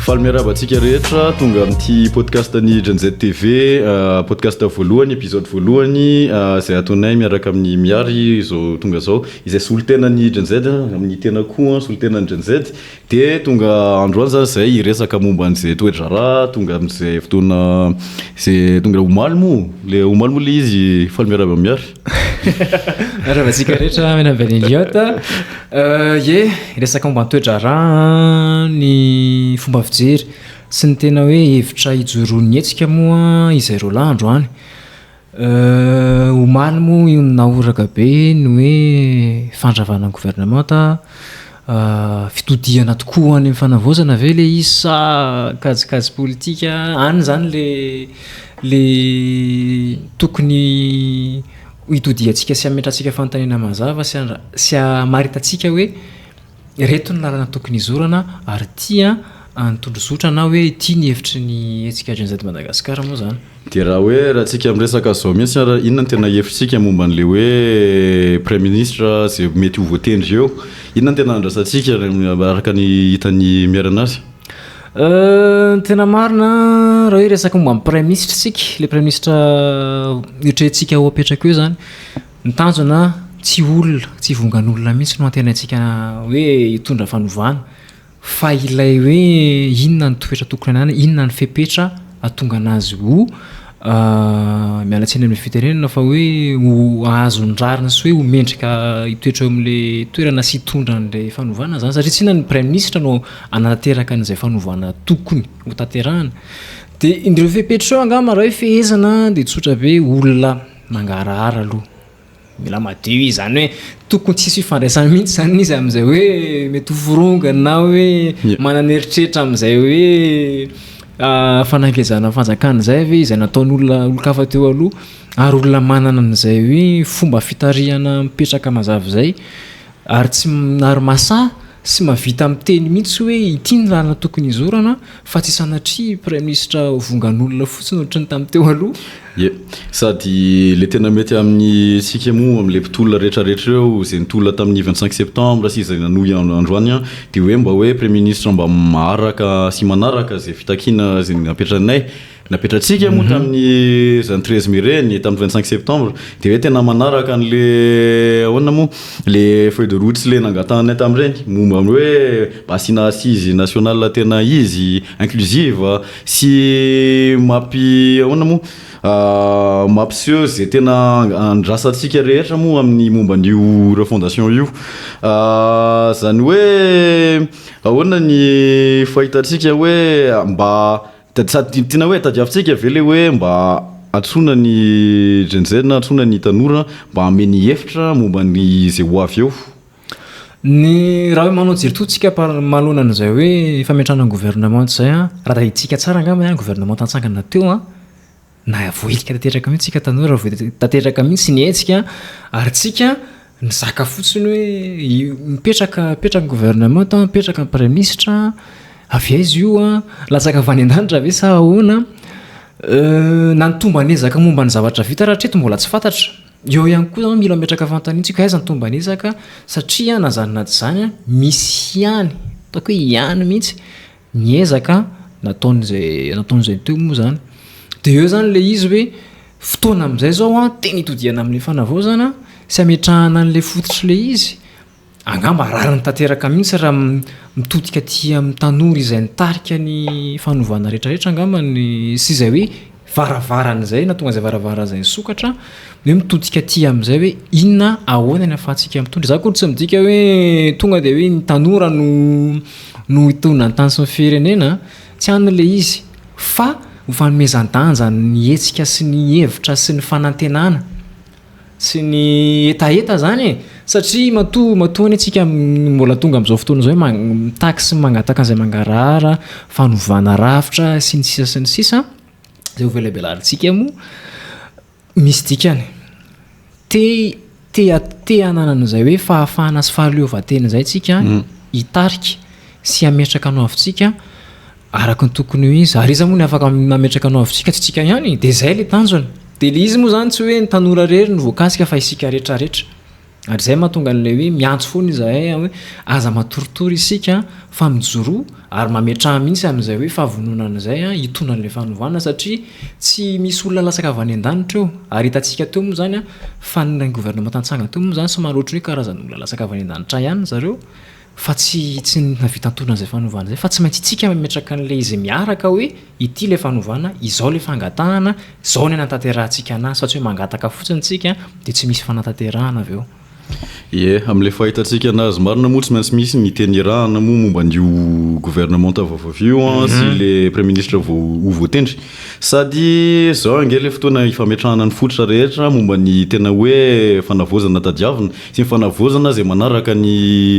Faly miarahaba antsika rehetra tonga amin'ity podcast ny Genz TV euh, podcast voalohany épisode voalohany euh, izay atonay miaraka amin'ny Miary izao tonga izao Izay solontenan'ny Gen-Z amin'ny tena koa solontenan'ny Gen-Z dia tonga androany izany izay hiresaka momba an'izay toe-draharaha tonga amin'izay fotoana izay tonga omaly moa ilay omaly moa ilay izy faly miarahaba Miary. Miarahaba antsika rehetra miarahaba an'i Elliot. Ie, hiresaka momba ny toe-draharaha ny fomba fijery sy ny tena hoe hevitra ijoroan'ny hetsika moa izy roalahy androany. Euh omaly moa io no nahoraka be ny hoe fandravana ny gouvernemanta ah, fitodihana tokoa ho any amin'ny fanavaozana ve ilay izy sa kajikajy politika any izany le le tokony ho itodihantsika sy hametrahantsika fanontaniana mazava sy sy hamaritantsika hoe Ireto ny lalana tokony hizorana ary tia an'i Tondrozotra na hoe tia ny hevitry ny hetsika Gen Z Madagascar moa izany. Dia raha hoe raha antsika miresaka izao mihitsy ary inona no tena hevitsika momba an'ilay hoe Praiminisitra izay mety ho voatendry eo? Inona no tena andrasantsika araka ny hitan'i Miera anazy? Ny tena marina raha hoe resaka momba ny Praiminisitra isika, ilay Praiminisitra eritreretintsika ho apetraka eo izany, Ny tanjona tsy olona, tsy vongan'olona mihitsy no antenaintsika hoe hitondra fanovana fa ilay hoe inona ny toetra tokony hananany, inona ny fepetra hahatonga anazy ho miala tsiny amin'ny fitenenana fa hoe ho hahazo ny rariny sy hoe ho mendrika hitoetra eo amin'ilay toerana sy hitondra an'ilay fanovana izany satria tsy inona ny praiminisitra no hanatanteraka an'izay fanovana tokony hotanterahina dia ireo fepetra ireo angamba raha hoe fehezana dia tsotra be olona Mangarahara aloha mila madio izy zany hoe tokony tsy hisy fifandraisana mihitsy zany izy amin'izay hoe mety ho forongany na hoe manana eritreritra amin'izay hoe ah, fanangejana fanjakana izay ve izay nataon'olona olon-kafa teo aloha ary olona manana an'izay hoe fomba fitarihana mipetraka mazava izay. Ary tsy ary masaha sy mahavita miteny mihitsy hoe ity ny lalana tokony hizorana fa tsy sanatria praiminisitra vongan'olona fotsiny ohatry ny tamin'ny teo aloha. Ie. Sady le tena mety amin'ny tsika moa amle mpitolona rehetra rehetra ireo izay nitolona tamin'ny vingt cinq septembre sy izay nanohy androany an de hoe mba hoe praiminisitra mba maharaka sy manaraka izay fitakiana izay napetrainay Napetratsika moa tamin'ny izany treize mai ireny, tamin'ny vingt cinq septembre, dia hoe tena manaraka an'ilay ahoana moa, ilay feuille de route sy ilay nangatahanay tamin'ireny, momba ny hoe mba asiana assise nationale tena izy, inclusive, sy mampi ahoana moa, mampiseho izay tena andrasantsika rehetra moa amin'ny momba an'io refondation io. Izany hoe ahoana ny fahitantsika hoe mba. Dia sady tiana hoe tadiavintsika ve ilay hoe mba antsoina ny Gen Z, antsoina ny tanora mba hanome ny hevitra momba ny izay ho avy eo? Ny raha hoe manao jery toa tsika par manoloana an'izay hoe fametrahana ny governemanta izay an, raha rahintsika tsara angamba an, governemanta natsangana teo an, Na voahilika tanteraka mihitsy tsika tanora, tanteraka mihitsy ny hetsika, ary tsika nizaka fotsiny hoe mipetraka, mipetraka ny gouvernement, mipetraka ny praimisitra, avy aiza io an, latsaka avy any an-danitra ve sa ahoana? na ny tomban'ezaka momba ny zavatra vita raha hatreto mbola tsy fantatra, eo ihany koa zany mila mametraka fanontaniantsika hoe aiza ny tomban'ezaka satria na zany na tsy zany an, misy ihany, ataoko hoe ihany mihitsy, ny ezaka nataon'izay nataon'izay teo moa zany de eo zany le izy hoe fotoana amizay zao an tena itodihana amle fanavaozana sy ametrahana anle fototry le izy angamba rariny tanteraka mihitsy raha mitodika aty amin'ny tanora izay nitarika ny fanovana retraretra angamba ny sy izay hoe varavarana izay na tonga izay varavarana izay nisokatra hoe mitodika aty amin'izay hoe inona ahoana ny afahantsika mitondra za koa tsy midika hoe tonga dia hoe ny tanora no no hitondra ny tany sy ny firenena tsy an'ny le izy fa ho fanomezan-danja ny hetsika sy ny hevitra sy ny fanantenana Tsy ny hetaheta zany e! Satria matoa matoa anie tsika mbola tonga amzao fotoana zao hoe mitaky sy mangataka anzay mangarahara, fanovana rafitra sy ny sisa sy ny sisa, zay hovelabelarintsika moa misy dikany. Te te te hanana anzay hoe fahafahana sy fahaleovantena zay tsika hitarika sy hametraka anao avy tsika. araka ny tokony ho izy, ary iza moa ny afaka mametraka anao avitsika tsy itsika ihany, dia izay ilay tanjona, dia ilay izy moa izany tsy hoe ny tanora irery no voakasika fa isika rehetra rehetra, ary izay mahatonga an'ilay hoe miantso foana izahay hoe aza matoritory isika fa mijoroa, ary mametraha mihitsy amin'izay hoe fahavononana an'izay hitondra an'ilay fanovana satria tsy misy olona latsaka avy any an-danitra eo, ary hitantsika teo moa izany fa ny governemanta nitsanga teo moa izany somary ohatry ny hoe karazan'olona latsaka avy any an-danitra ihany zareo, Fa tsy tsy nahavita nitondra an'izay fanovana izay, fa tsy maintsy isika mametraka an'ilay izy miaraka hoe ity ilay fanovana, izao ilay fangatahana, izao ny hanatanterahantsika anazy, fa tsy hoe mangataka fotsiny isika dia tsy misy fanatanterahana avy eo. Ie, amin'ilay fahitantsika anazy marina moa tsy maintsy misy ny teny irahana moa momba an'io governemanta vaovavy io sy ilay praiminisitra vao ho voatendry. Sady izao ange ilay fotoana hifametrahana ny fototra rehetra momba ny tena hoe fanavaozana tadiavina sy ny fanavaozana izay manaraka ny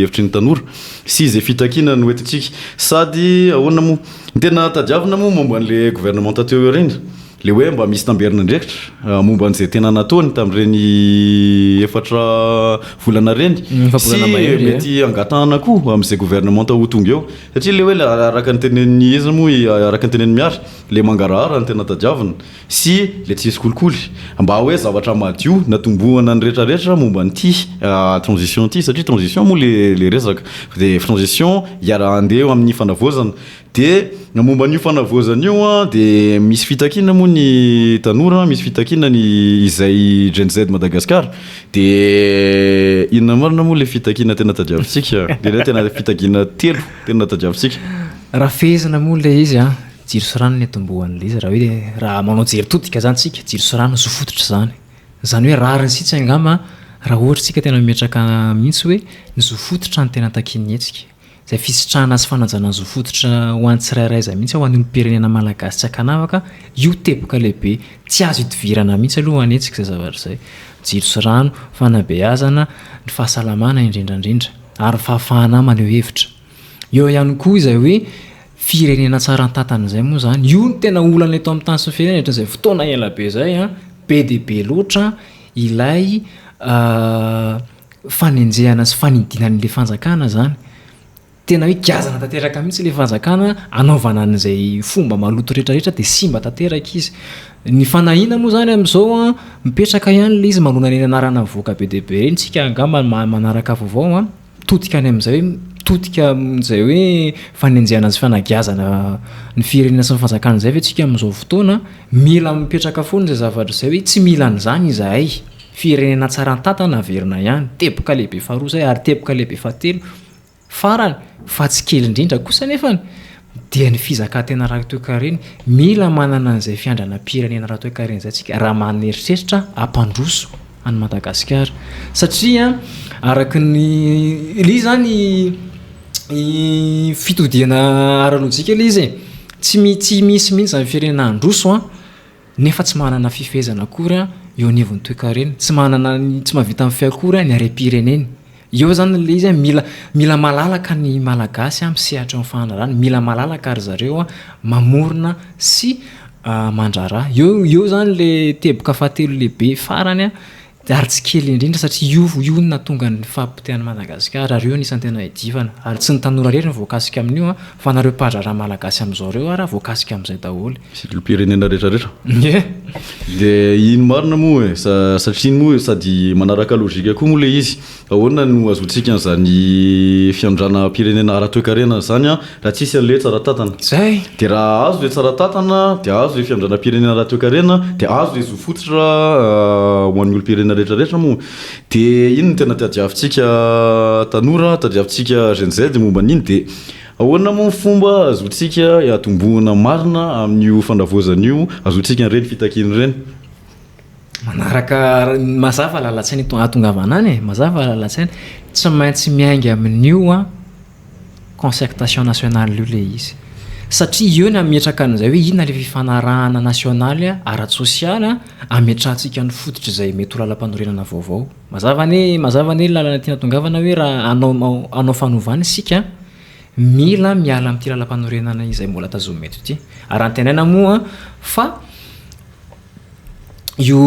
hevitry ny tanora sy izay fitakiana no entintsika. Sady ahoana moa? Ny tena tadiavina moa momba an'ilay governemanta teo aoriana? Ilay hoe mba misy tamberin'andraikitra momba an'izay tena nataony tamin'ireny efatra volana ireny sy mety hangatahana koa amin'izay governemanta ho tonga eo? Satria ilay hoe araka ny tenenin'i iza moa i, araka ny tenenin'i Mihary, ilay mangarahara no tena tadiavina sy ilay tsy misy kolikoly. Mba hoe zavatra madio natombohana ny retraretra momba an'ity transition ity, satria transition moa ilay resaka dia transition iaraha-andeha eo amin'ny fanavaozana. Dia ny momba an'io fanavaozana io dia misy fitakiana moa ny tanora, misy fitakiana ny izay Gen Z Madagascar. Dia inona marina moa ilay fitakiana tena tadiavintsika? Dia ilay tena fitakiana telo tena tadiavintsika? Raha fehezina moa ilay izy an, jiro sy rano no nitomboan'ilay izy, raha hoe raha manao jery todika izany isika, jiro sy rano zo fototra izany. Izany hoe rariny isitsy angamba raha ohatra isika tena mimetraka mihitsy hoe ny zo fototra no tena takian'ny hetsika. izay fisitrahana sy fanajana ny zo fototra ho an'ny tsirairay izay mihitsy, ho an'ny olom-pirenena malagasy tsy ankanavaka io teboka lehibe tsy azo idivirana mihitsy aloha hanetsika izay zavatra izay, jiro sy rano, fanabeazana, ny fahasalamana indrindra indrindra ary ny fahafahana maneho hevitra. Eo ihany koa izay hoe firenena tsara an-tantana izay moa izany, io no tena olana eto amin'ny tany sy ny firenena hatramin'izay fotoana ela be izay, be dia be loatra ilay fanenjehana sy fanidiana an'ilay fanjakana izany. Tena hoe giazana tanteraka mihitsy ilay fanjakana anaovana an'izay fomba maloto rehetrarehetra dia simba tanteraka izy. Ny fanahiana moa izany amin'izao an, mipetraka ihany ilay izy manohana ireny anarana mivoaka be dia be ireny isika angamba mahay manaraka vaovao an, mitodika any amin'izay hoe mitodika amin'izay hoe fanenjehana sy fanagiazana ny firenena sy ny fanjakana izay ve isika amin'izao fotoana. Mila mipetraka foana izay zavatra izay hoe tsy mila an'izany izahay. Firenena tsara an-tantana averina ihany, teboka lehibe faharoa izay ary teboka lehibe fahatelo farany fa tsy kely indrindra kosa anefa dia ny fizakan-tena ara-toekarena. Mila manana an'izay fiandranam-pirenena ara-toekarena izay isika raha maneritreritra hampandroso an'i Madagasikara satria araka ny ilay izy izany fitodihana ara-lojika ilay izy e, tsy misy mihitsy izany firenena handroso nefa tsy manana fifehezana akory eo anivon'ny toekarena, tsy manana ny, tsy mahavita mifehy akory ny harem-pireneny. Eo izany ilay izy hoe mila, mila malalaka ny Malagasy amin'ny sehatry ny fandraharahana, mila malalaka ry zareo mamorona sy mandraharaha. Eo, eo izany ilay teboka fahatelo lehibe farany. ary tsy kely indrindra satria io io no nahatonga ny fahapotehan'i Madagasikara ary io no isan'ny tena iadivana ary tsy ny tanora irery no voakasika amin'io an, fa nareo mpandraharaha malagasy amin'izao ireo ara voakasika amin'izay daholo. Sy ny olom-pirenena rehetra rehetra. Ie. Dia iny marina moa e, sa satria iny moa sady manaraka logika koa moa ilay izy, Ahoana no ahazoantsika an'izany fiandrianam-pirenena ara-toekarena izany raha tsisy an'ilay hoe tsara tantana? Izay! Dia raha azo ilay tsara tantana, dia azo ilay fiandrianam-pirenena ara-toekarena, dia azo ilay zo fototra ho an'ny olom-pirenena rehetrarehetra moa. Dia iny no tena tadiavintsika tanora, tadiavintsika Gen Z momba an'iny. Dia ahoana moa ny fomba ahazoantsika atombohana marina amin'io fanavaozana io, ahazoantsika an'ireny fitakiana ireny? manaraka mazava lalan-tsaina eto ahatongavana any e, mazava lalan-tsaina, tsy maintsy miainga amin'io a concertation nationale io le izy satria eo ny ametraka an'izay hoe inona le fifanarahana nasionaly ara-tsosialy ametrahantsika ny fototra izay mety ho lalam-panorenana vaovao mazava anie mazava anie lalana tiana tongavana hoe raha anao anao fanovana isika mila miala amin'ity lalam-panorenana izay mbola tazomina eto ity ary antenaina moa fa Io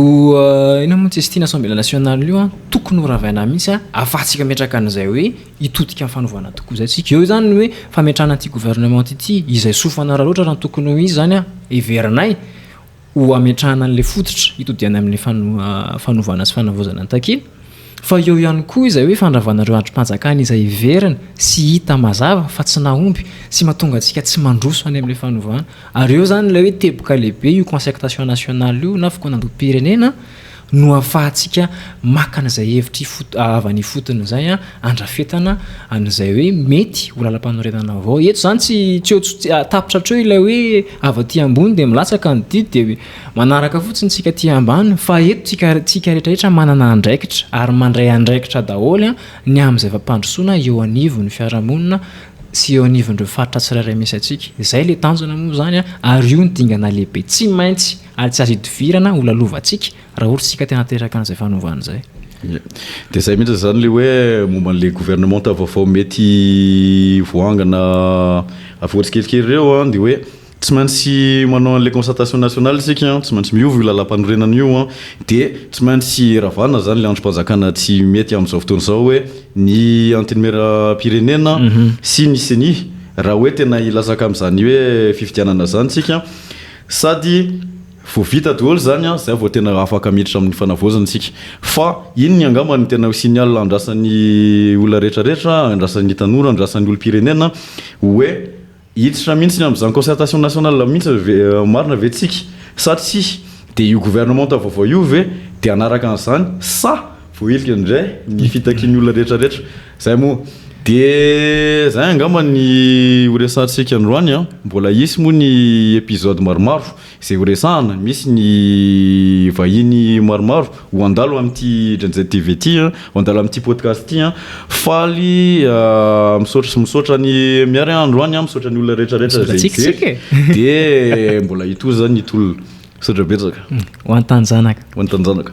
inona moa Cestine Assemblée Nationale io an, tokony ho ravaina mihitsy an, afahantsika metraka an'izay hoe hitodika amin'ny fanovana tokoa izay tsika. Eo izany ny hoe fametrahana ity gouvernement ity, izay soa fanararaotra raha ny tokony ho izy izany an, heverinay ho hametrahana an'ilay fototra hitodihanay amin'ilay fanovana sy fanavaozana takiana. Fa eo ihany koa izay hoe fandravana ireo andrim-panjakana izay heverina sy hita mazava fa tsy nahomby sy mahatonga antsika tsy mandroso any amin'ilay fanovana. Ary eo izany ilay hoe teboka lehibe, io concertation nationale io na fikaonandoham-pirenena no ahafahantsika maka an'izay hevitra ifot- avy any ifotony izay handrafetana an'izay hoe mety ho lalampanorenana vaovao. Eto izany tsy tsy eo tsy tapitra hatreo ilay hoe avy aty ambony dia milatsaka ny didy dia Manaraka fotsiny tsika aty ambany fa eto tsika tsika retraretra manana andraikitra ary mandray andraikitra daholo ny amin'izay fampandrosoana eo anivon'ny fiarahamonina sy eo anivon'ireo faritra tsirairay misy antsika. Izay le tanjona moa zany ary io no dingana lehibe tsy maintsy ary tsy azo idivirana ho lalovantsika raha ohatra isika te hanateraka an'izay fanovana izay. Ie. Dia izay mihitsy izany le hoe momba an'le governemanta vaovao mety voangana avy ohatra tsikelikely ireo dia hoe, Tsy maintsy manao an'ilay concertation nationale isika an, tsy maintsy miova io lalàmpanorenana io an, dia tsy maintsy ravana izany ilay andrim-panjakana tsy mety amin'izao fotoana izao hoe ny Antenimierampirenena sy ny Ceni, raha hoe tena hilatsaka amin'izany hoe fifidianana izany isika, sady vao vita daholo izany an, izay vao tena afaka miditra amin'ny fanavaozana isika. Fa iny ny angamba no tena ho signal andrasan'ny olona rehetra rehetra, andrasan'ny tanora, andrasan'ny olom-pirenena hoe, Hiditra mihitsy ny amin'izany concertation nationale mihitsy ve marina ve tsika sa tsia? Dia io gouvernementa vaovao io ve dia hanaraka an'izany sa voahilika indray ny fitakian'ny olona rehetra rehetra? Izay moa dia izay angamba ny horesahantsika androany an! Mbola hisy moa ny episode maromaro. Izay ho resahana, misy ny vahiny maromaro ho handalo amin'ity Gen-Z TV ity, ho handalo amin'ity podcast ity. Faly misaotra sy misaotra an'i Mihary androany, misaotra ny olona rehetra rehetra izay hijery dia mbola hitohy izany ny tolona. Misaotra betsaka. Ho an'ny taninjanaka. Ho an'ny taninjanaka.